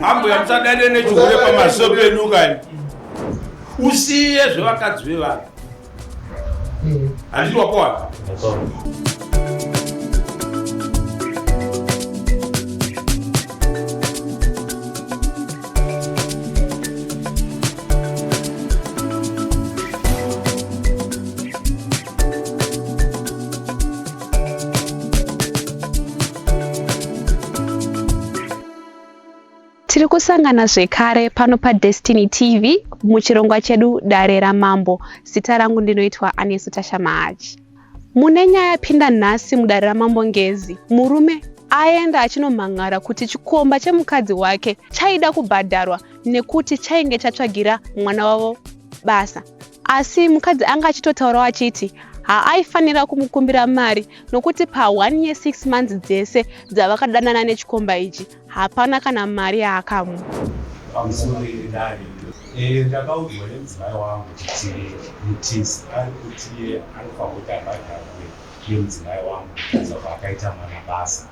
Mambo yamusadane nechihure pamaso pedu kani. Usiye zvevakadzi vevanhu. Handiti wakohwa? tiri kusangana zvekare pano padestiny tv muchirongwa chedu dare ramambo zita rangu ndinoitwa anesu tasha mahachi mune nyaya yapinda nhasi mudare ramambo ngezi murume aenda achinomhan'ara kuti chikomba chemukadzi wake chaida kubhadharwa nekuti chainge chatsvagira mwana wavo basa Asi mukadzi anga achitotaurawo achiti haaifanira kumukumbira mari nokuti pa 1 year 6 months dzese dzavakadanana nechikomba ichi hapana kana mari yaakamu Eh, ndakaudzwa nemudzimai wangu kuti mutisi ari kuti anofanira kuti abhadharwe nemudzimai wangu kuza kwaakaita mwana basa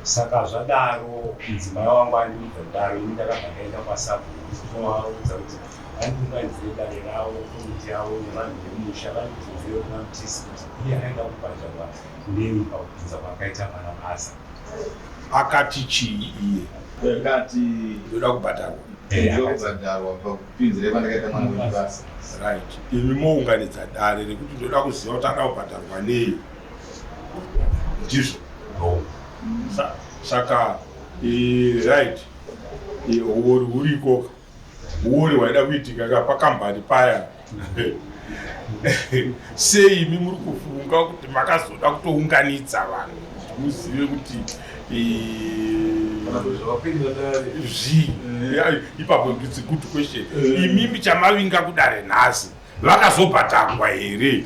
Saka zvadaro mudzimai wangu andiudza kudaro ini ndakabva ndaenda kwasabhuku kuzovaudza kuti vandiunganidzire dare ravo komiti yavo nevanhu vemusha vandibvunzire kuna mutisi kuti iye aida kubhadharwa nei pakubvunza kwakaita mwana basa akati chii iye akati ndoda kubhadharwa ndokubhadharwa pakupinzira pandakaita mwana webasa right imi mounganidza dare rekuti ndoda kuziva kuti ada kubhadharwa nei ndizvo no saka right huori huriko huori hwaida kuitika ka pakambani paya sei imi muri kufunga kuti makazoda kutounganidza vanhu kuti muzive kuti zvii ipapo nditsi good question imimi chamavinga kudare nhasi vakazobhadharwa here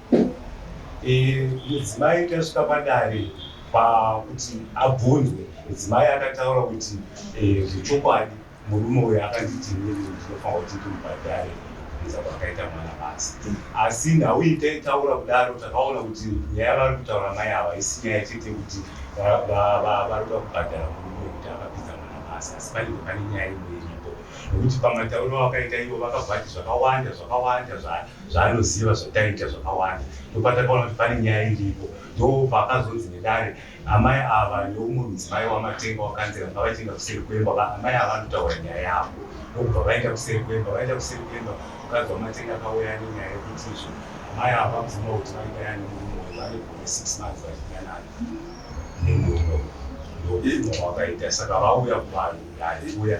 Mudzimai tasvika padare pakuti abvunzwe, mudzimai akataura kuti eh, zvechokwadi murume uyo akanditi inini ndinofanira kuti ndimubhadhare kuedza kwakaita mwana basi asi nhau iyi taitaura kudaro takaona kuti nyaya vari kutaura mai ava isi nyaya chete kuti vari kuda kubhadhara murume kuti akapinza mwana basi asi panenge pane nyaya imwe iripo nekuti pamatauriro akaita ivo vakabvati zvakawanda zvakawanda zva zvaanoziva zvataita zvakawanda ndopatakaona kuti pane nyaya iripo ndopaakazonzi nedare amai ava neumwe mudzimai wamatenga wakanzira ngavachienda kuseri kwemba amai ava vanotaura nyaya yavo ndokubva vaenda kuseri kwemba vaenda kuseri kwemba mukadzi wamatenga akauya nenyaya yekuti izvo amai ava vabvuma kuti vaigaya nemurume uyu vane gome six months vachiganana nemurume uyu ndokuno wakaita saka vauya kuvanhu dare uya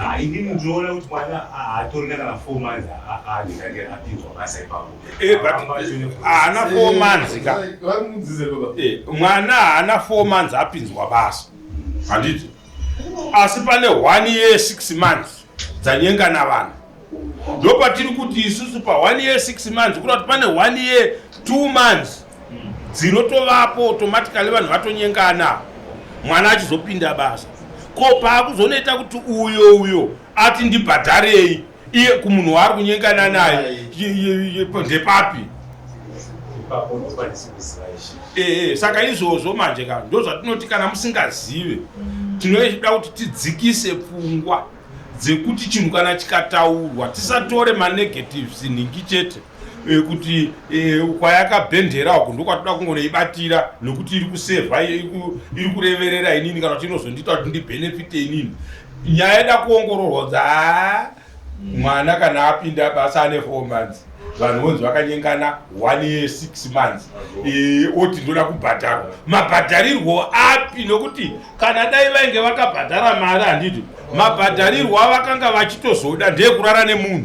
Ah, ini ndinoona kuti mwana haatorina kana four months aandikake apinzwa basa ipapo eh, haana ah, four months ka eh, mwana haana four months apinzwa basa handiti asi pane one year six months dzanyenga na vanhu ndopatiri kuti isusu pa one year six months kuda kuti pane one year two months dzinotovapo automatically vanhu vatonyengana mwana achizopinda basa ko paakuzonoita kuti uyo uyo ati ndibhadharei iye kumunhu waari kunyengana naye ndepapi eh, eh, saka izvozvo manje ka ndo zvatinoti kana musingazive tinoda kuti tidzikise pfungwa dzekuti chinhu kana chikataurwa tisatore manegatives nhingi chete Eh, kuti eh, kwayakabhendera uku ndokwatoda kungoibatira nokuti iri kusevha iri kureverera inini kana kuti inozondiita kuti ndibhenefite inini nyaya yeda kuongororwa kuti haa mwana kana apinda basa ane four months vanhu vonzi vakanyengana one year six months eh, oti ndoda kubhadharwa mabhadharirwo api nokuti kana dai vainge vakabhadhara mari handiti mabhadharirwo avakanga vachitozoda ndeekurara nemunhu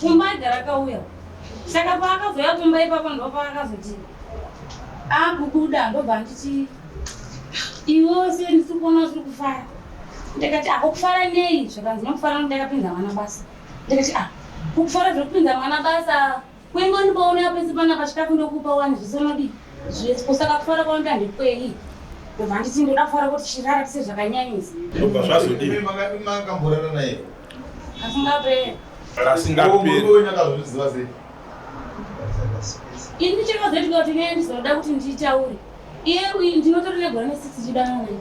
Kumba aigara akauya saka paakazouya kumba ipapo ndo paakazoti akubuda ah, ndobva anditi iwewo se ndisi kuona usiri kufara ndikati ah kufara nei zvakanzi nokufara nokuti ndakapinza mwana basa ndikati ah kufara zviri kupinza mwana basa kuingo ndipaonea pese panapa chikafu ndokupa wani zvisonodii kusaka kufara kwanoita ndekwei ndobva anditi ndoda kufara kuti chirara tise zvakanyanyisa ndobva zvazodii makamborara naye kasingaperi kasingaperi ini chakazoitika kuti iye ndizoda kuti nditaure iye uyu ndinotori negore nesix chidana naye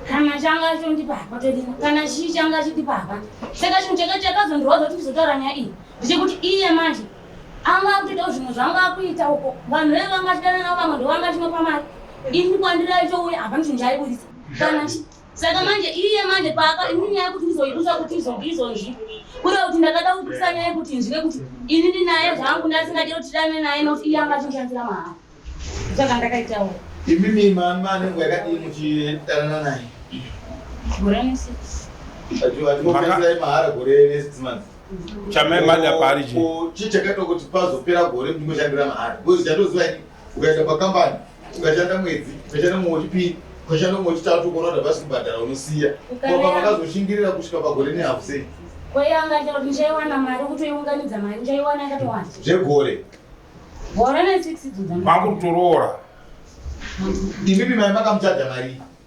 kana changa achondipa hapa todini kana chii changa achindipa hapa saka chinhu chake chakazondirwadza kuti ndizotaura nyaya iyi ndechekuti iye manje anga akutoitawo zvimwe zvanga akuita uko vanhu vee vanga achidana navo vamwe ndovanga achinopa mari ini kwandiri aitouya hapana chinhu chaaiburitsa kana saka manje iye manje paaka ini nyaya yekuti ndizoibusa kuti izonge izonzvi kure kuti ndakada kubusa nyaya yekuti inzvike kuti ini ndinaye zvangu ndasingade kuti dane naye nokuti iye anga achishandira mahara saka ndakaitawo imimi mama anengo yakadii muchidanana naye gore nesikatiaai mahara gore nesiximonth chamai mada paari chii chii chakaita kuti pazopera gore ndimoshandira mahara bcause chatoziva ini ukaenda pakambani ukashanda mwedzi ukashanda mumwe wechipiri ukashanda mumwe wechitatu ukaona kuti havasi kubhadhara unosiya koka vakazoshingirira kusvika pagore nehafu sei kweyanga chero kuti ndichaiwana mari kutoiunganidza mari ndichaiwana yakatowanda zvegore gore ne six idzo dzamva vakutoroora ndimipi mai makamuchaja marii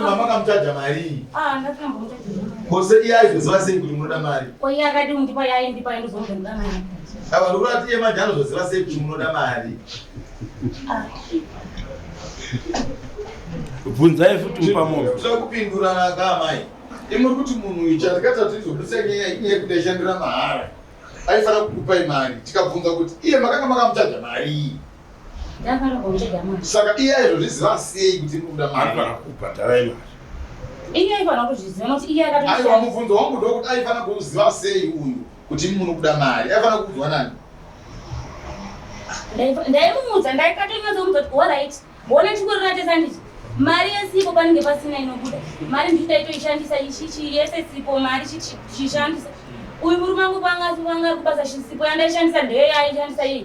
mamakamutaja marii ah, kose iye aizoziva sei kuti munoda mari ava ndokurati iye manje anozoziva sei kuti munoda mari ah. bvunzai futi mupamokupindurana kamai imuri kuti munhu uyu chatakata tizobudisa nyaya inye yekuti aishandira mahara aifanira kukupai mari tikabvunza kuti iye makanga makamutaja marii saka iye aizozviziva sei kuti ikuda maaifanira kubhadhara imari iye aifanira kuzviziva nokuti iye aiwa mubvunzo wangu ndokuti aifanira kuziva sei uyu kuti muno kuda mari aifanira kuudzwa nani ndaimuudza ndaikatonyatsomuudza kuti orit wona chikurinatesa ndichi mari yesipo panenge pasina inobuda mari ndichi ndaitoishandisa ichichi yese sipo mari chichishandisa uyu murume angu kwanga asi kwanga ari kubasa chisipo yandaishandisa ndeyo yaaishandisa iye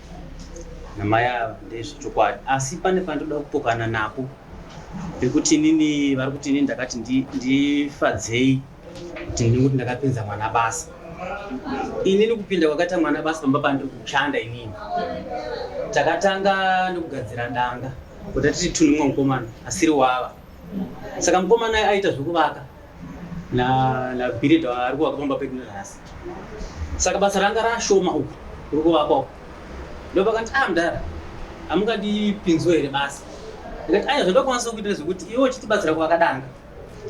namai ava ndezvechokwadi asi pane pandoda kupokana napo pekuti inini vari kuti inini ndakati ndifadzei kuti ndini kuti ndakapinza mwana basa inini kupinda kwakaita mwana basa pamba pandiri kushanda inini takatanga nekugadzira danga kuti atiti tunumwa mukomana asiri wava saka mukomana aita zvekuvaka na na Billy ndo ari kuvaka pamba pedu nhasi saka basa ranga rashoma uku uri kuvakwa uku ndopakanti a ah, mdara hamungandipinziwo here basa ndikati aya zvandokwanisa kuita zvekuti iwe uchitibatsira kuvakadanga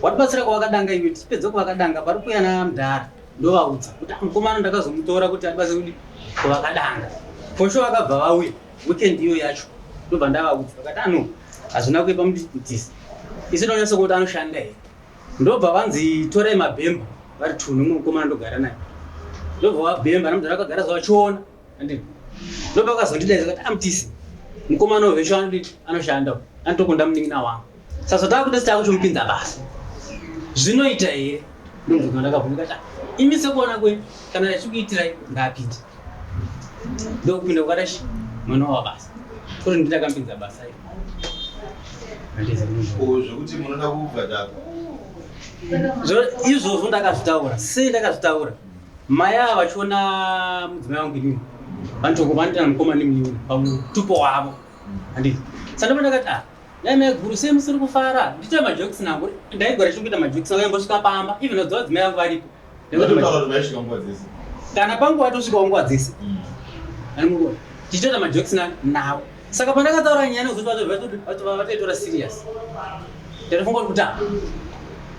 watibatsira kuvakadanga iwe tichipedza kuvakadanga pari kuya na mdara ndovaudza kuti ah, mukomana ndakazomutora kuti atibatsire kuti kuvakadanga fosho vakabva vauya weekend iyo yacho ndobva ndavaudza vakati ano ah, hazvina kuipa mutisi isi ndonyatsokuti anoshanda here Ndobva vanzi torai mabhemba vari two nemumwe mukomana ndogara naye ndobva vabhemba namudhara akagara zvavachiona andini ndobva akazondidaidza kati amtisi mukomana uyu vesho anodii anoshanda uyu anotokunda munin'ina wangu saka takuda sitava kuchomupinza basa zvinoita here ndobva ndakabvunza kati imi sekuona kwenyu kana achikuitirai ngaapinde ndokupinda kukadashi mwana wabasa Kuri nditakampinza basa iri. Handisi munhu. Ko zvekuti munoda kubhadharwa. Zvo- izvozvo ndakazvitaura sei ndakazvitaura mai ava vachiona mudzimai wangu inini vanotoko vanoitana mukoma nemunini pamutupo wavo handiti sandoma ndakati ah dai mai guru sei musiri kufara ndiite majokisi nangu ndaigora chiri kuita majokisi nangu yambosvika pamba even vadziwa vadzimai vangu varipo kana panguva tosvikawo nguva dzese mm. tichitoita majokisi navo saka pandakataura nyaya nekuzotivataitora serious tatofunga kuti kutamba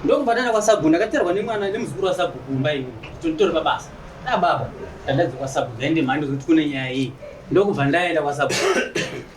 ndokubva ndaenda kwasabhu ndakaterwa nemwana nemuzukuru wasabhu kumba ini tonditori pabasa nababa tandadzi kwasabhu ndaende mhandi zokuti kune nyaya iyi ndokubva ndaenda kwasabhu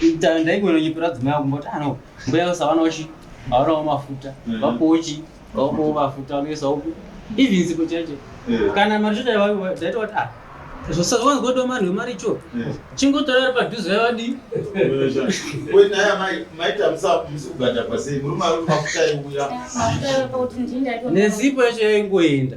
Ita ndaigona nyepera dzimai yangu mboti ano ah, mbuya usava nochi haonawo mafuta mm. vapochi vaonawo mafuta anoisa uku even sipo chaicho eh. kana mari choda daita wati ah zvosawanzgoda mari wemari cho eh. chingotora ari padhuze yavadii nesipo yacho yaingoenda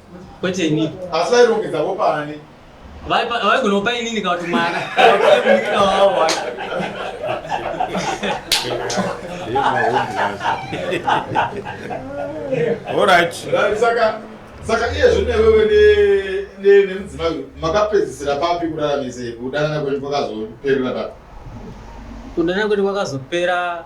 Kwete ini. Asi vairongedza vopa ani? Vaigona kupa inini kana kuti mwana. Munin'ina wavo wacho. All right. Saka saka iye zvine wewe ne nemudzimai makapedzisira papi kurara mise kudanana kwenyu kwakazoperera papi? Kudanana kwenyu kwakazopera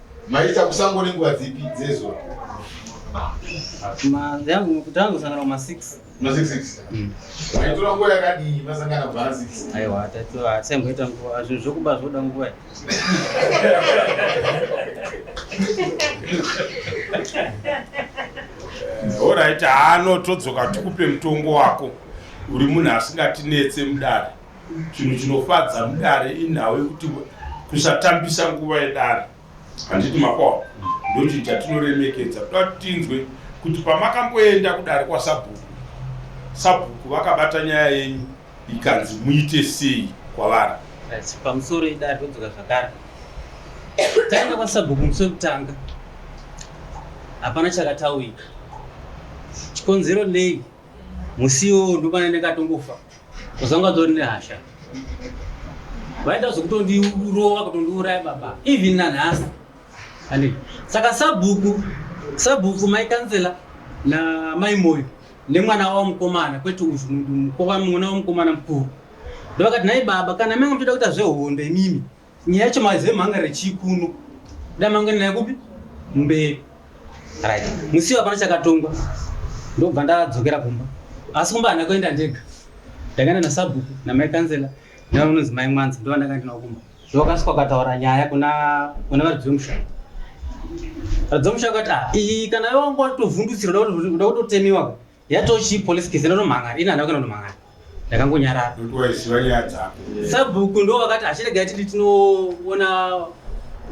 Maita kusango nenguva dzipi dzezuva? Yangu kutangu sangana ma 6. Ma 6 6. Mm. Maitora nguva yakadii masangana kubva 6? Aiwa, tatora asemboita nguva zvinhu zvokuba zvoda nguva. Alright, haano todzoka tikupe mutongo wako. Uri munhu asingatinetse mudare. Chinhu chinofadza mudare inhau yekuti kusatambisa nguva yedare handiti makwawa ndochinhu chatinoremekedza toda kuti tinzwe kuti pamakamboenda kudare kwasabhuku sabhuku vakabata nyaya yenyu ikanzi muite sei kwavari pamusoro idare todzoka zvakare taenda kwasabhuku musi wekutanga hapana chakataurika chikonzero nei musi iwowo ndomana ndakatongofa Zvazanga ndori nehasha. Vaida zvekutondirova kutondiuraya baba. Even nanhasi. Ani. Saka sabhuku, sabhuku mai kansela na mai moyo nemwana wavo mukomana kwete uyu mukoma mwana wavo mukomana mukuru. Ndovakati nhai baba kana manga muchida kuita zvehondo imimi Nyaya yacho maiziva manga rechii kuno. Dai mange naye kupi? Mberi. Right. Musi hapana chakatongwa. Ndobva ndadzokera kumba. Asi kumba handina kuenda ndega. Ndakaenda nasabhuku namai kanzela nevanonzi mai mwanza ndova ndakanga ndinawo kumba. Ndokasika ukataura nyaya kuna kuna varidzi vemushaka. Varidzi vemushaka kuti ah iyi kana wangu watovhundutsira uda kutotemiwa. yatochi police case inonomhanga ini handava kana nomhanga ndakangonyarara sabhuku ndo vakati achiregai titi tinoona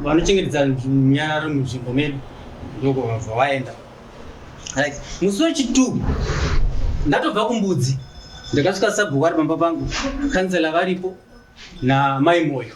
vanochengetedza nyararo munzvimbo medu ndokuvabva vaenda right musi wechitu ndatobva kumbudzi ndakasvika sabhuku ari pamba pangu kansela varipo namai moyo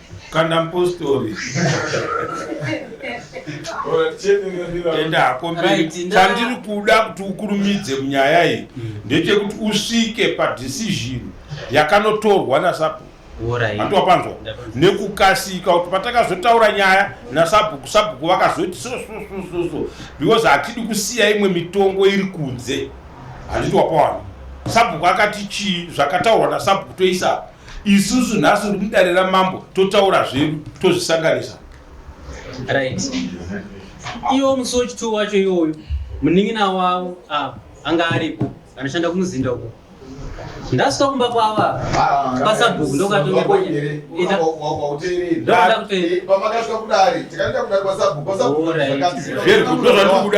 Kanda mpostori. Enda hako mberi. Chandiri kuda kuti ukurumidze munyaya iyi mm. ndechekuti usvike padecision yakanotorwa nasapo atiwapanzwa nekukasika kuti patakazotaura nyaya nasabhuku sabhuku vakazoti so so so so so because hatidi kusiya imwe mitongo iri kunze handiti wapawana sabhuku akati chii zvakataurwa nasabhuku toisapo isusu nhasi uri mudare ramambo totaura zvedu tozvisanganisa right iwo musi wechituu wacho iwoyo munin'ina wavo ava anga aripo anoshanda kumuzinda uko ndasvika kumba kwava pasabhuku ndokatoaakutopakasvika kudari tikaenda kudari pasabhuku pasabhuku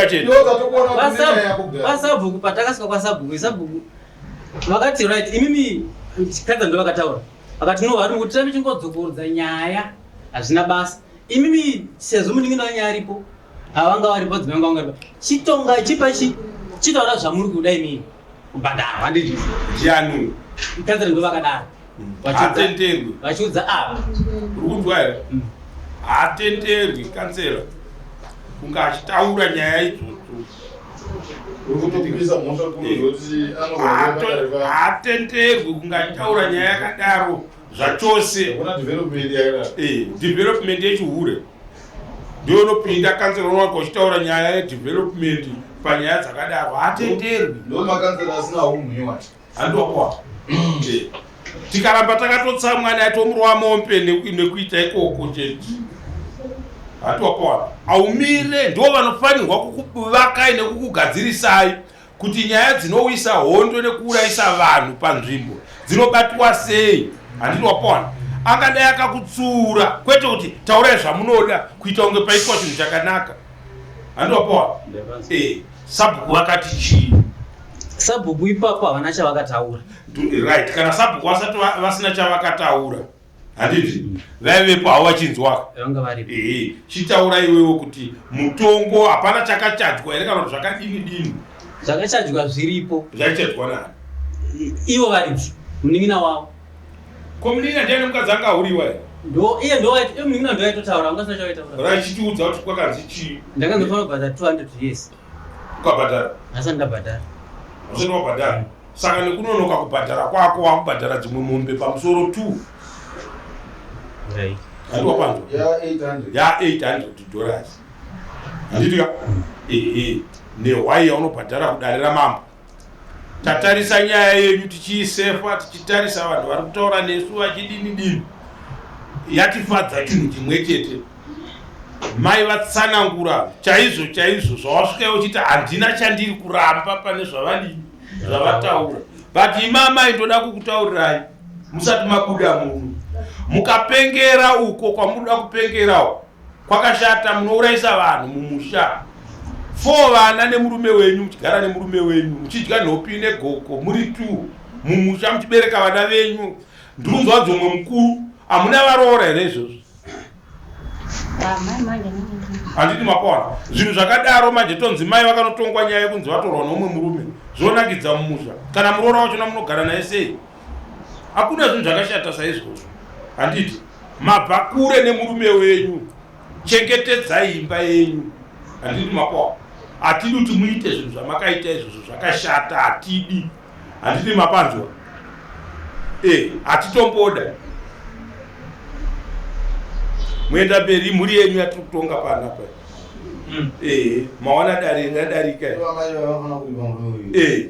chete pasabhuku patakasvika kwasabhuku isabhuku vakati right imimi kadza ndo vakataura vakati no vari kuti tame chingodzokorodza nyaya hazvina basa imimi sezvo munin'ina wanyaya aripo havanga varipo dzimai vanga vanga varipo chitonga chipa chi chitaura zvamuri kuda imimi kubhadharwa handiti ndiani kadza ndo vakadaro hatenderwi vachiudza ava rukunzwa here mm. hatenderwi kansela kunge achitaura nyaya idzodzo hatenderwi kunge achitaura nyaya yakadaro zvachose eh, development yechihure ndiyo inopinda kansela unowaka uchitaura nyaya yedevelopment panyaya dzakadaro hatenderwi handiwakwa tikaramba takatotsamwa naye tomurova mombe nekuita ikoko chete hatiwakwana aumire ndo vanofanirwa kukuvakai nekukugadzirisai kuti nyaya dzinouyisa hondo nekuurayisa vanhu panzvimbo dzinobatwa sei handiti wapona angadai akakutsiura kwete kuti taurai zvamunoda kuita kunge paitwa chinhu chakanaka handiti wapona eh, sabhuku vakati chii Sabhuku ipapo havana chavakataura. Right, kana sabhuku vasati vasina chavakataura. Handiti mm. vaivepo havo vachinzwa. Vanga varipo. Eh, chitaura iwewe kuti mutongo hapana chakachajwa here kana kuti zvakadini dini? Zvakachajwa zviripo. Zvakachajwa nani? Ivo varidzi, munin'ina wavo. Ko munin'ina ndiani mukadzi anga ahuriwa here? Ndo iye ndo waiti, iye munin'ina ndo waitotaura, ungasina chavaitaura. Rachitiudza kuti kwakanzi chii? Ndakanzi fanobva za 200 years. ukabhadhara asi ndabhadhara usati wabhadhara saka nekunonoka kubhadhara kwako wakubhadhara dzimwe mombe pamusoro t andiwapanzwa ya 800 dollars anditya ee nehwai yaunobhadhara kudare ramambo tatarisa nyaya yenyu tichiisefa tichitarisa vanhu vari kutaura nesu vachidini dini yatifadza chinhu chimwe chete mai vatsanangura chaizvo chaizvo zvawasvika uchiti handina chandiri kuramba pane zvavadini zvavataura but ima amai ndoda kukutaurirai musati mabuda muno mukapengera uko kwamunoda kupengerawo kwakashata munourayisa vanhu mumusha four vana nemurume wenyu muchigara nemurume wenyu muchidya nhopi negoko muri two mumusha muchibereka vana venyu ndunzwa dzomwe mukuru hamuna varoora here izvozvo handiti mapona zvinhu zvakadaro manje tonzi mai vakanotongwa nyaya yekunzi vatorwa noumwe murume zvonakidza mumusha kana muroora wachona munogara naye sei hakuna zvinhu zvakashata saizvozvo handiti Mabva kure nemurume wenyu, chengetedzai imba yenyu. Handiti mapwa? Hatidi kuti muite zvinhu zvamakaita izvozvo zvakashata, hatidi. Handiti mapanzwa? Eh, hatitomboda. Muenda mberi mhuri yenyu yatiri kutonga pana pa. Mm. Eh, maona dare radarika. Eh.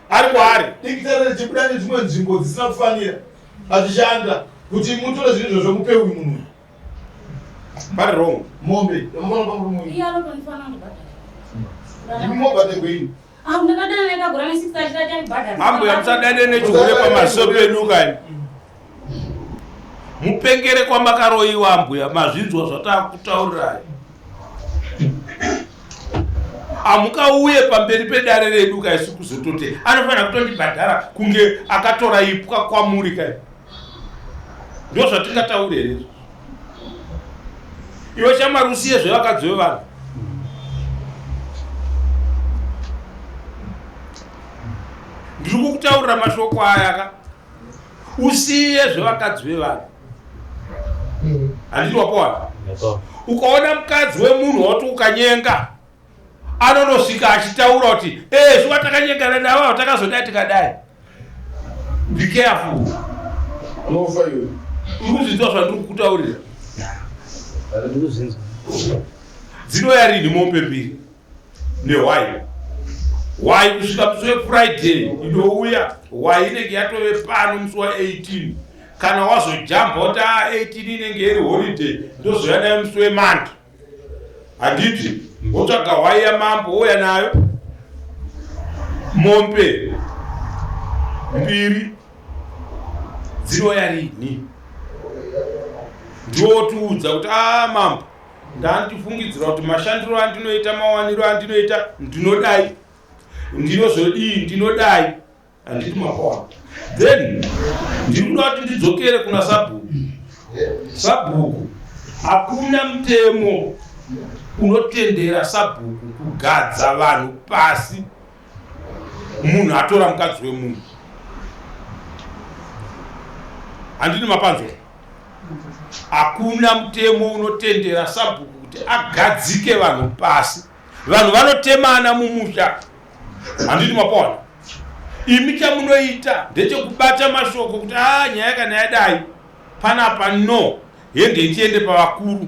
ari kwaari dikitare richibuda nedzimwe nzvimbo dzisina kufanira achishanda kuti mutore zvinhu izvozvo mupe uyu munhu vari wrong mombe yamafana pamurume uyu imi mobhategweini mambo yamusadane nechihure pamaso pedu kani mupengere kwamakaroiwa ambuya mazvinzwa zvatakutaurirai hamukauye pamberi pedare redu kaisu kuzotote anofanira kutondibhadhara kunge akatora ipwa kwamuri kai ndo zvatingataure here iwe shamwari usiye zvevakadzi vevanhu ndiri kukutaurira mashoko ayaka usiye zvevakadzi vevanhu handiti wapowana ukaona mukadzi wemunhu wauti ukanyenga anonosvika achitaura kuti ee zuva takanyengana navo atakazodai tikadai be careful unofa iwe urikuzvinzwa zvandiri kukutaurira dzinoyarini mombe mbiri nehwai hwai kusvika musi wefriday inouya hwai inenge yatove pano musi wa18 kana wazojamba kuti a 18 inenge iri holiday ndozouya nayo musi wemandi handiti wotsvaga hwai yamambo wouya nayo mombe mbiri dzinouya rini ndiwotiudza kuti a ah, mambo ndandifungidzira kuti mashandiro andinoita mawaniro andinoita ndinodai ndinozodii ndinodai handiti mapoa then ndiri kuda kuti ndidzokere kuna sabhuku sabhuku hakuna mutemo unotendera sabhuku kugadza vanhu pasi munhu atora mukadzi wemunhu handini mapanzwa hakuna mutemo unotendera sabhuku kuti agadzike vanhu pasi vanhu vanotemana mumusha handiti mapona imi chamunoita ndechekubata mashoko kuti a ah, nyaya kana yadai panapa no Henge tiende pavakuru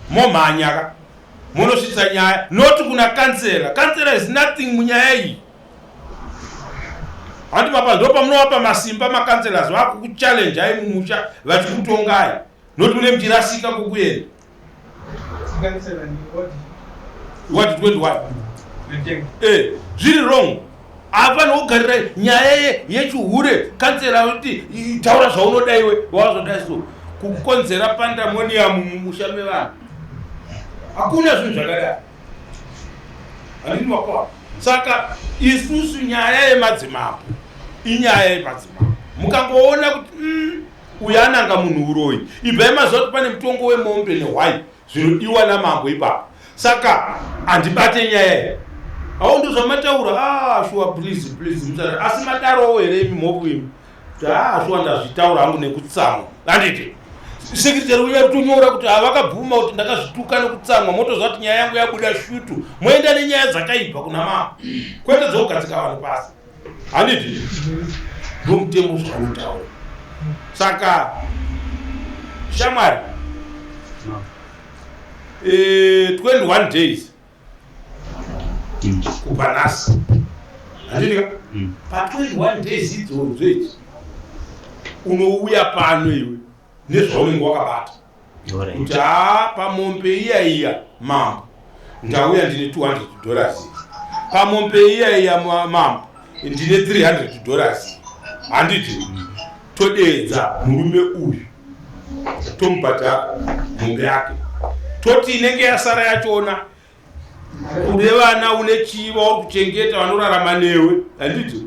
momhanya ka monosvitsa nyaya not kuna kansela. Kansela is nothing munyaya iyi. Handi papa ndo pamunovapa masimba makanselas vakukuchallenge ai mumusha vachikutongai not mune muchirasika kukuenda. What did what? Eh, zviri wrong. hapana kugarira nyaya ye yechihure kansera kuti taura zvaunoda iwe wazodai so kukonzera pandamoniyamu mumusha mevanhu hakuna zvinhu zvakadai handini makwana saka isusu nyaya yemadzimambo inyaya yemadzimambo mukangoona kuti mm, uyu ananga munhu uroyi ibvai maziva kuti pane mutongo wemombe nehwai zvinodiwa namambo ipapo saka handibate nyaya here awo ndo zvamataura a ah, shuwa please please musara asi madarowo here imi mhopu imi taa ah, shuwa ndazvitaura hangu nekutsamwa handiti sekretary uya kutonyora kuti havakabvuma kuti ndakazvituka nekutsamwa motozva kuti nyaya yangu yabuda shutu moenda nenyaya dzakaipa kuna mama kwete dzokugadzika vanhu pasi handiti ndomutemo zvavanotaura saka shamwari no. e, eh, 21 days mm. kubva nhasi handinika mm. pa 21 days idzodzo idzi unouya pano iwe nezvaunenge wakabata kuti haa pamombe iya iya mambo ndauya ndine 200 dollars pamombe iya iya mambo ndine 300 dollars handiti todeedza murume uyu tomubhadhara mombe yake toti inenge yasara yachoona une vana une chii vauri kuchengeta vanorarama newe handiti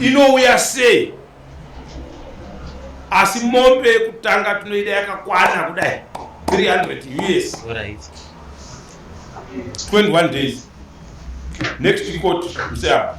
inouya sei asi mombe yekutanga tinoida yakakwana kudai 300 years 21 days next court mseapa